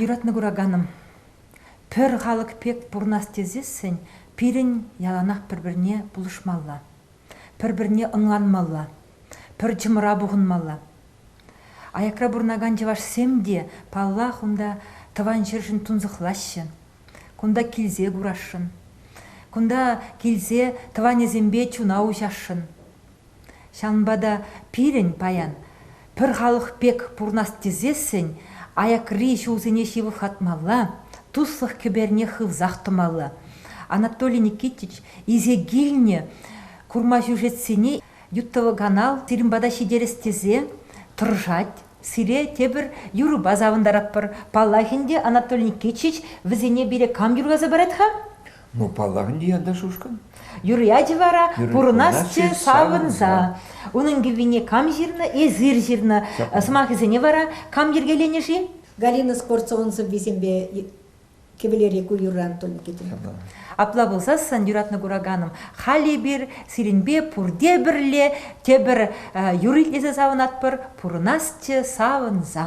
Юратнӑ кураканӑм, пӗр халӑх пек пурӑнас тесессӗн пирӗн яланах пӗр-пӗрне пулӑшмалла, пӗр-пӗрне ӑнланмалла, пӗр чӑмӑра пухӑнмалла. Аякра пурӑнакан чӑвашсем те, паллах, унта тӑван ҫӗршӗн тунсӑхлаҫҫӗ. Кунта килсе курасшӑн. Кунта килсе тӑванӗсемпе чуна уҫасшӑн. Ҫавӑнпа та пирӗн паян пӗр халӑх пек пурӑнас тесессӗн аякри ҫулсене ҫывӑхлатмалла, туслӑх кӗперне хывсах тӑмалла. Анатолий Никитич илсе килнӗ курма сюжетсене ютӑваканал сирӗн пата ҫитерес тесе тӑрӑшать. Сире тепӗр юрӑпа савӑнтаратпӑр. Паллах ӗнтӗ, Анатолий Никитич вӗсене пире кам юрласа парать-ха? Ну, паллах ӗнтӗ янташ ушкӑн. Юрӑ вара пурӑнасчӗ савӑнса. Унӑн кӗввине кам ҫырнӑ? Эсир ҫырнӑ. Сӑмахӗсене вара кам йӗркеленӗ-ши? Галина спортзалӑн сӑввисемпе кӗвӗлери ку юрран тум кӗтрӗ. Апла пулсассӑн, юратнӑ кураканӑм, халь эпир сирӗнпе пурте пӗрле тепӗр юр итлесе савӑнатпӑр, пурӑнасчӗ савӑнса.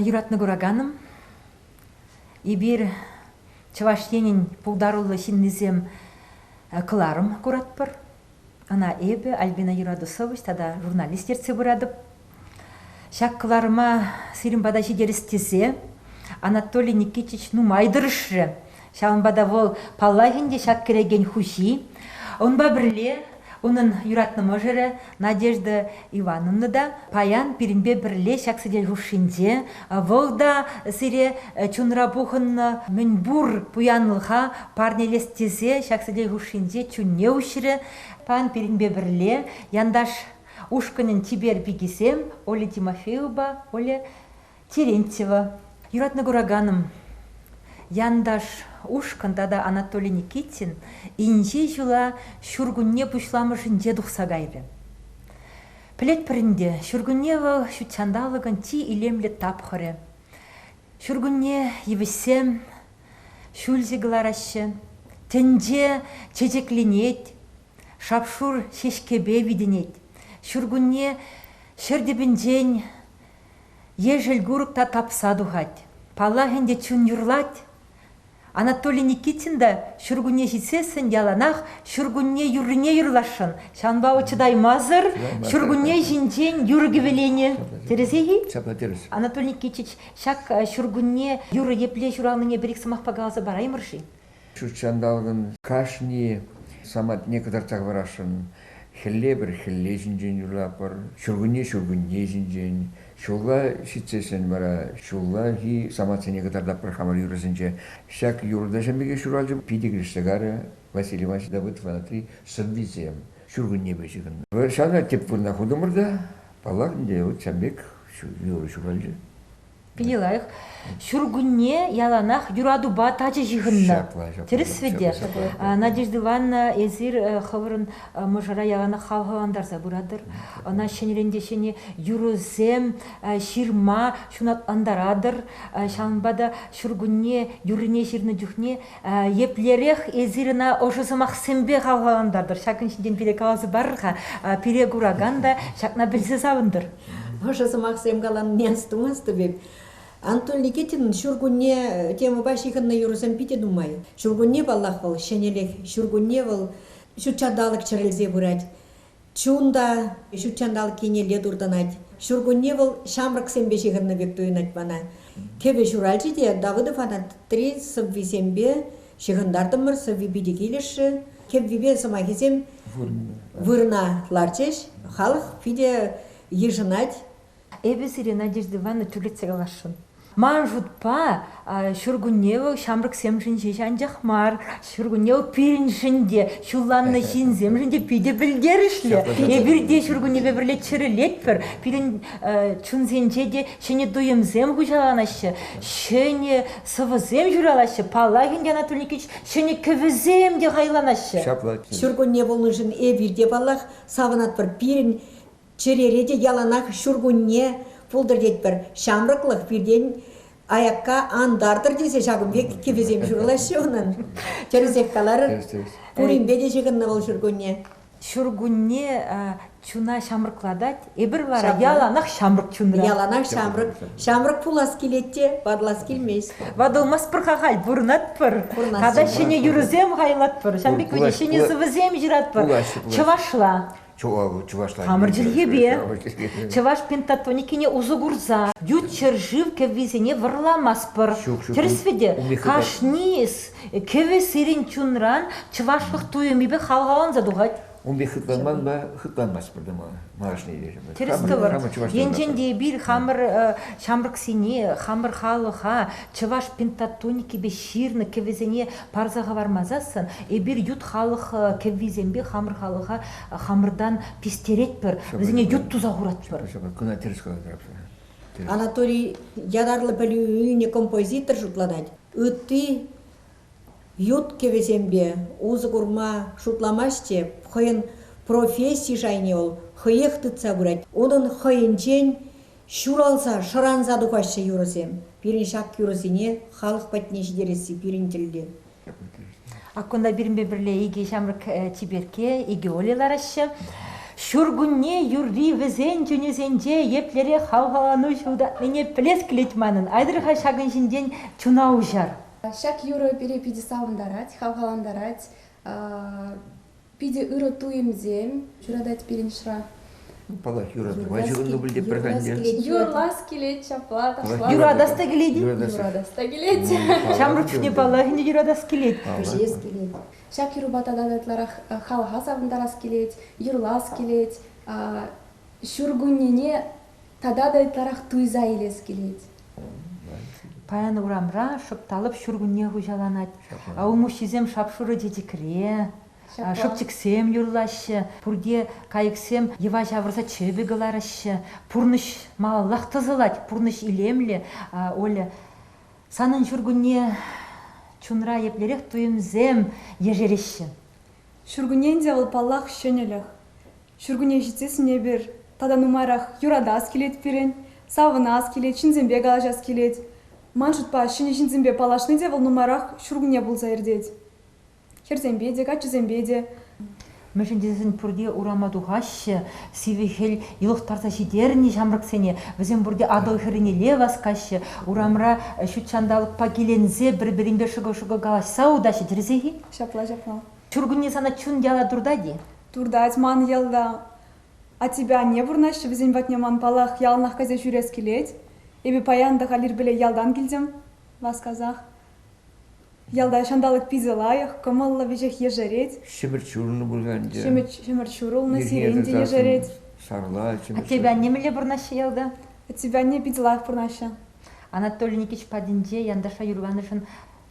Юратнӑ кураканӑм, эпир Чӑваш Енӗн пултаруллӑ ҫыннисем кӑларӑм куратпӑр. Ӑна эпӗ Альбина Юрадусович тата журналист ертсе пыратӑп. Ҫак кӑларӑма сирӗн пата ҫитерес тесе Анатолий Никитич нумай тӑрӑшрӗ. Ҫавӑнпа та вӑл паллах ӗнтӗ ҫак кӗрекен хуҫи. Унпа пӗрле унӑн юратнӑ мӑшӑрӗ Надежда Ивановна та паян пирӗнпе пӗрле ҫак сӗтел хушшинче. Вӑл та сире чунра пухӑннӑ мӗнпур пуянлӑха парнелес тесе ҫак сӗтел хушшинче чунне уҫрӗ. Паян пирӗнпе пӗрле янташ ушкӑнӗн чипер пикисем Оля Тимофеевӑпа Оля Терентьева, юратнӑ кураканӑм, Янташ ушкӑн тата Анатолий Никитин инҫе ҫула ҫуркунне пуҫламӑшӗнче тухса кайрӗ. Пӗлетпӗр ӗнтӗ, ҫуркунне вӑл ҫут ҫанталӑкӑн чи илемлӗ тапхӑрӗ. Ҫуркунне йывӑҫсем ҫӳлҫӗ кӑлараҫҫӗ, тӗнче чечекленет, шап-шур ҫеҫкепе витӗнет. Ҫуркунне ҫӗр тӗпӗнчен Ешӗл-курӑк та тапса тухать. Паллах ӗнтӗ, чун юрлать. Анатолий Никитин та ҫуркунне ҫитсессӗн яланах ҫуркунне юррине юрласшӑн. Ҫавӑнпа вӑл чӑтаймасӑр ҫуркунне ҫинчен юрӑ-кӗвӗленӗ. Тӗрӗсех-и? Ҫапла тӗрӗс. Анатолий Никитич ҫак ҫуркунне юрӑ епле ҫуралнине пӗр-ик сӑмахпа каласа параймӑр-ши? Ҫут ҫанталӑкӑн кашни самантне кӑтартса хӑварасшӑн. Хӗлле пӗр хӗлле ҫинчен юрлатпӑр, ҫуркунне ҫуркунне ҫинчен. Ҫулла ҫитсессӗн вара ҫуллахи самантсене кӑтартатпӑр хамӑр юрӑсенче. Ҫак юрӑ-ташӑн пекех ҫуралчӗ питӗ килӗшсе карӗ Василий Иванович Давыдовӑнатри сӑввисем ҫуркуннепе ҫыхӑннӑ. Ҫавна тӗп вырӑна хутӑмӑр та, паллах, ӗнтӗ ҫав пек юрӑ ҫуралчӗ. питӗ лайӑх. Ҫуркунне яланах юратупа тачӑ ҫыхӑннӑ. Тӗрӗсвӗ те. Надежда Ивановна, эсир хӑвӑрӑн мӑшӑра яланах хавхалантарса пыратӑр. Ӑна ҫӗнӗрен те ҫӗнӗ юрӑсем, ҫырма ҫунатлантаратӑр. Ҫавӑнпа та ҫуркунне юррине ҫырнӑ чухне Еплерех эсир ӑна ӑшӑ сӑмахсемпе хавхалантартӑр, ҫакӑн ҫинчен пире каласа парӑр-ха. Пире куракан та ҫакна пӗлсе савӑнтӑр. Ӑшӑ сӑмахсем каланине астумастӑп эп. Антон Никитинӑн ҫуркунне темӑпа ҫыхӑннӑ юрӑсем питӗ нумай. Ҫуркунне, паллах, вӑл ҫӗнӗлӗх. Ҫуркунне вӑл ҫут ҫанталӑк чӗрӗлсе пырать. Чун та ҫут ҫанталӑк еннелле туртӑнать. Ҫуркунне вӑл ҫамрӑксемпе ҫыхӑннӑ пек туйӑнать мана. Кӗвӗ ҫуралчӗ те Давыдов анатри сӑввисемпе ҫыхӑнтартӑмӑр. Сӑвви питӗ килӗшрӗ. Кӗввипе сӑмахӗсем вырӑна ларчӗҫ. Халӑх питӗ йышӑнать. Эпӗ сире, Надежда Ивановна, тӳрлетсе каласшӑн. Ман шутпа, ҫуркунне вӑл ҫамрӑксемшӗн ҫеҫ анчах мар, ҫуркунне вӑл пирӗншӗн те, ҫулланнӑ ҫынсемшӗн те питӗ пӗлтерӗшлӗ. Эпир те ҫуркуннепе пӗрле чӗрӗлетпӗр. Пирӗн чунсенче те ҫӗнӗ туйӑмсем хуҫаланаҫҫӗ, ҫӗнӗ сӑвӑсем ҫуралаҫҫӗ. Паллах, Ӗнтӗ Анатолий Никитич ҫӗнӗ кӗвӗсем те хайланаҫҫӗ. Ҫуркунне пулнӑшӑн эпир те, паллах, савӑнатпӑр. Пирӗн Чӗрере те яланах ҫуркунне пултӑр тетпӗр. Ҫамрӑклӑх пиртен аякка ан тартӑр тесе ҫакӑн пек кӗпесем ҫурӑлаҫҫӗ унӑн. Тӗрӗсех калар. Пуринпе те ҫыхӑннӑ вӑл ҫуркунне. Ҫуркунне чуна ҫамрӑклатать. Эпир вара яланах ҫамрӑк чунра. Яланах ҫамрӑк. Ҫамрӑк пулас килет те, варлас килмест. Ватӑлмастпӑр-ха халь, пурӑнатпӑр. Тата ҫӗнӗ юрӑсем хайлатпӑр. Ҫавӑн пек ҫӗнӗ сӑвӑсем ҫыратпӑр. Чӑвашла. чӑвашла хамӑр чӗлхепе чӑваш пентатоникине усӑ курса ют ҫӗршыв кӗввисене вӑрламастпӑр тӗрӗсвӗте кашни кӗвӗ сирӗн чунран чӑвашлӑх туйӑмӗпе хавхаланса тухать Унпе хытланман хытланмасть пӗртен малашне тӗрӗс тӑвӑр енчен те эпир хамӑр ҫамрӑксене хамӑр халӑха чӑваш пентатоникипе ҫырнӑ кӗвӗсене парса хӑвармасассӑн эпир ют халӑх кӗввисемпе хамӑр халӑха хамӑртан пистеретпӗр, вӗсене ют туса хуратпӑр. Кӑна тӗрӗс калатӑр Анатолий ятарлӑ пӗлӳ ӳнӗ композитор шутланать. Ытти ют кӗвӗсемпе усӑ курма шутламасть те, хӑйӗн професси шайне вӑл хӑех тытса пырать. Унӑн хӑйӗнчен Ҫуралса, шӑранса тухаҫҫӗ юрӑсем. Пирӗн ҫак юрӑсене халӑх патне ҫитересси пирӗн тӗллев. Ак кунта пирӗнпе пӗрле икӗ ҫамрӑк чиперкке, икӗ Оля лараҫҫӗ. Ҫуркунне юрри вӗсен чунӗсенче еплерех хавхалану ҫутатнине пӗлес килет манӑн. Айтӑр-ха ҫакӑн ҫинчен чуна уҫар. Ҫак юрӑ пире питӗ савӑнтарать, хавхалантарать. Питӗ ырӑ туйӑмсем ҫуратать пирӗн шра. Палах, юратӑва ҫывӑннӑ пуль пӗр ӗнтӗ. Юрлас килет, ҫапла ташланӑ. Юратас та килет. Юратас та килет. Ҫамрӑк чухне паллах ӗнтӗ юратас килет. Кӗҫес килет. Ҫак юрӑпа тата ытларах халӑха савӑнтарас килет, юрлас килет. Ҫуркуннене тата та ытларах туйса илес килет. Паян урамра шӑпталӑп ҫуркунне хуҫаланать. Улмуҫҫисем шап-шурӑ чечекре, шӑпчӑксем юрлаҫҫӗ. Пурте кайӑксем йӑва ҫавӑрса чӗпӗ кӑлараҫҫӗ. Пурнӑҫ малаллах тӑсӑлать, пурнӑҫ илемлӗ. Оля, санӑн ҫуркунне чунра еплерех туйӑмсем ешереҫҫӗ? Ҫуркуннен те вӑл, паллах, ҫӗнӗлӗх. Ҫуркунне ҫитсессӗн эпир тата нумайрах юратас килет пирӗн, савӑнас килет, ҫынсемпе калаҫас килет. Ман шутпа, ҫӗнӗ ҫынсемпе паллашни те вӑл нумайрах ҫуркунне пулса иртет. Хӗрсемпе те, каччӑсемпе те. Мӗншӗн тесен пурте урама тухаҫҫӗ, сивӗ хӗл йӑлӑхтарса ҫитернӗ ҫамрӑксене, вӗсем пурте Атӑл хӗрринелле васкаҫҫӗ, урамра ҫут ҫанталӑкпа киленсе пӗр-пӗринпе шӑкӑл-шӑкӑл калаҫса утаҫҫӗ, тӗрӗсех-и? Ҫапла, ҫапла. Ҫуркунне сана чун яла туртать-и? Туртать ман йӑлта. А тебе анне вырнаҫчӗ вӗсен патне ман паллах яланах кайса ҫӳрес килет. Эпӗ паян та халь ирпеле ялтан килтӗм, васкасах. Ялта ҫанталӑк питӗ лайӑх, кӑмӑллӑ, веҫех ешерет. Ҫӗмӗрт ҫурӑлнӑ пуль ӗнтӗ. Ҫӗмӗрт, ҫӗмӗрт ҫурӑлнӑ, сирень те ешерет. Сарла, ҫӗмӗрт. А тебе анне мӗнле вырнаҫҫӗ ялта? Тебе анне питӗ лайӑх вырнаҫҫӗ. Анатолий Никитич патӗнче янташа юрланӑшӑн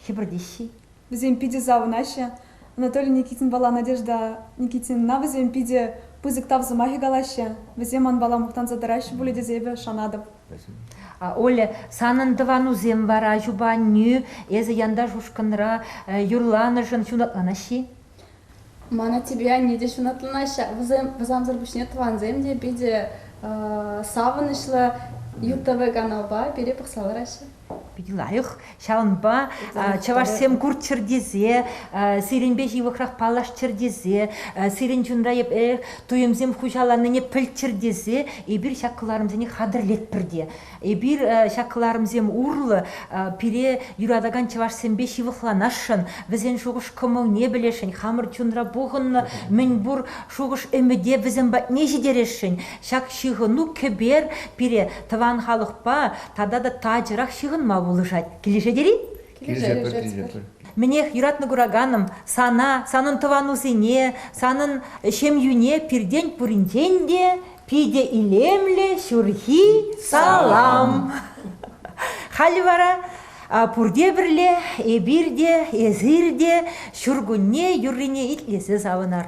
хӗпӗртеҫҫӗ-и? Вӗсем питӗ савӑнаҫҫӗ. Анатолий Никитинпала Надежда Никитинна вӗсем питӗ пысӑк тав сӑмахӗ калаҫҫӗ. Вӗсем манпала мухтанса тӑраҫҫӗ пулӗ тесе эпӗ шанатӑп. Оля, санӑн тӑванусем вара, ачупа аннӳ, эсӗ янташ ушкӑнра юрланӑшӑн ҫунатланаҫҫӗ-и? Ман аттепе анне те ҫунатланаҫҫӗ. Вӑсамсӑр пуҫне тӑвансем те питӗ савӑнӑҫлӑ ЮТВ каналпа пире пӑхса лараҫҫӗ. Питӗ лайӑх. Ҫавӑнпа чӑвашсем курччӑр тесе, сирӗнпе ҫывӑхрах паллашчӑр тесе, сирӗн чунра епле туйӑмсем хуҫаланнине пӗлччӗр тесе эпир ҫак кӑларӑмсене хатӗрлетпӗр те Эпир ҫак кӑларӑмсем урлӑ пире юратакан чӑвашсемпе ҫывӑхланасшӑн, вӗсен шухӑш-кӑмӑлне пӗлесшӗн, хамӑр чунра пухӑннӑ мӗнпур шухӑш-ӗмӗте вӗсем патне ҫитересшӗн. Ҫак ҫыхӑну кӗпер пире тӑван халӑхпа тата та тачӑрах ҫыхӑнма пулӑшать. Килӗшет ери Килӗшетпӗр, килӗшетпӗр. Мӗнех, юратнӑ кураканӑм, сана, санӑн тӑванусене, санӑн ҫемйӳне пиртен пуринчен те Питӗ илемлӗ ҫурхи салам. Халӗ вара пурте пӗрле, эпир те, эсир те ҫуркунне юррине итлесе савӑнар.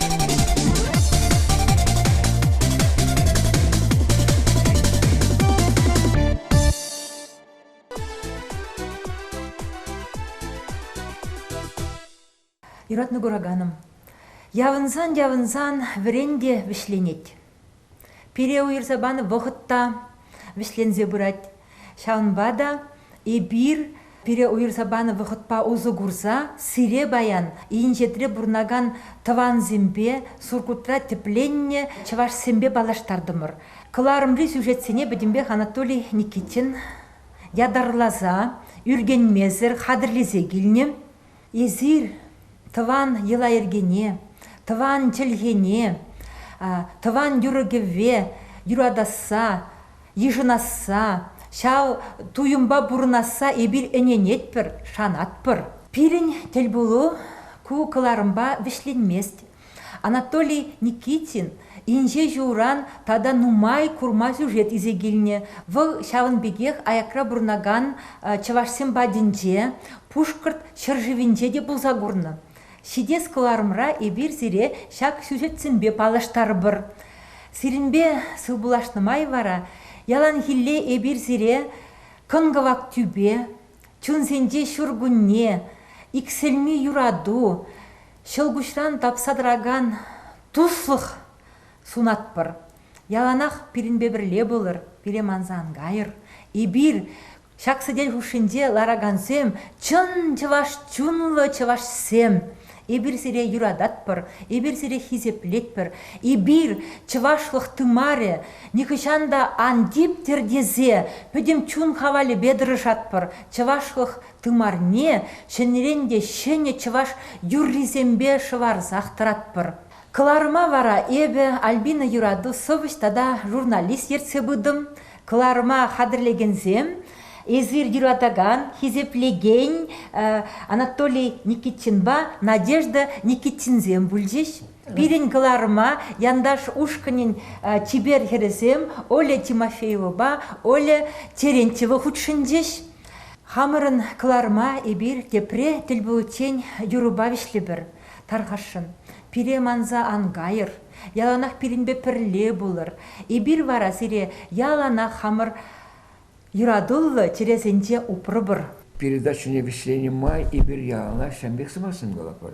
Юратнӑ кураканӑм, явӑнсан-явӑнсан вӗрен те вӗҫленет. Пире уйӑрса панӑ вӑхӑт та вӗҫленсе пырать. Ҫавӑнпа та эпир пире уйӑрса панӑ вӑхӑтпа усӑ курса сире паян инҫетре пурӑнакан тӑвансемпе, Сургутра тӗпленнӗ чӑвашсемпе паллаштартӑмӑр. Кӑларӑмри сюжетсене пӗтӗмпех Анатолий Никитин ятарласа, ӳркенмесӗр хатӗрлесе килнӗ. Эсир тӑван йӑла-йӗркене, тӑван чӗлхене, тӑван юрӑ-кӗвве юратасса, йышӑнасса, ҫав туйӑмпа пурӑнасса эпир ӗненетпӗр, шанатпӑр. Пирӗн тӗлпулу ку кӑларӑмпа вӗҫленмест. Анатолий Никитин инҫе ҫулран тата нумай курма сюжет илсе килнӗ. Вӑл ҫавӑн пекех аякра пурӑнакан чӑвашсем патӗнче, Пушкӑрт ҫӗршывӗнче те пулса курнӑ. Ҫитес кӑларӑмра эпир сире ҫак сюжетсемпе паллаштарӑпӑр. Сирӗнпе сывпуллашнӑ май вара яланхилле эпир сире кӑн-кӑвак тӳпе, чунсенче ҫуркунне, иксӗлми юрату, ҫӑлкуҫран тапса тӑракан туслӑх сунатпӑр. Яланах пирӗнпе пӗрле пулӑр, пире манса ан кайӑр. Эпир, ҫак сӗтел хушшинче ларакансем, чӑн чӑваш чунлӑ чӑвашсем. Эпир сире юрататпӑр, эпир сире хисеплетпӗр. Эпир, чӑвашлӑх тымарӗ, нихӑҫан та ан типтӗр тесе пӗтӗм чун хавалӗпе тӑрӑшатпӑр. Чӑвашлӑх Тымарне ҫӗнӗрен те ҫӗнӗ чӑваш юррисемпе шӑварсах тӑратпӑр. Кӑларӑма вара эпӗ, Альбина Юрату сӑвӑҫ тата журналист ертсе пытӑм. Кӑларӑма хатӗрлекенсем, эсир юратакан, хисеплекен Анатолий Никитинпа Надежда Никитинсем пулчӗҫ. Пирӗн кӑларӑма Янташ ушкӑнӗн чипер хӗрӗсем Оля Тимофеевӑпа Оля Терентьева хутшӑнчӗҫ. Хамӑрӑн кӑларӑма эпир тепре тӗл пуличчен юрӑпа вӗҫлӗпӗр. Тархасшӑн, пире манса ан кайӑр. Яланах пирӗнпе пӗрле пулӑр. Эпир вара сире яланах хамӑр юратуллӑ чӗресенче упрӑпӑр. Передачӑне вӗҫленӗ май эпир яланах ҫан пек сӑмахсем калатпӑр.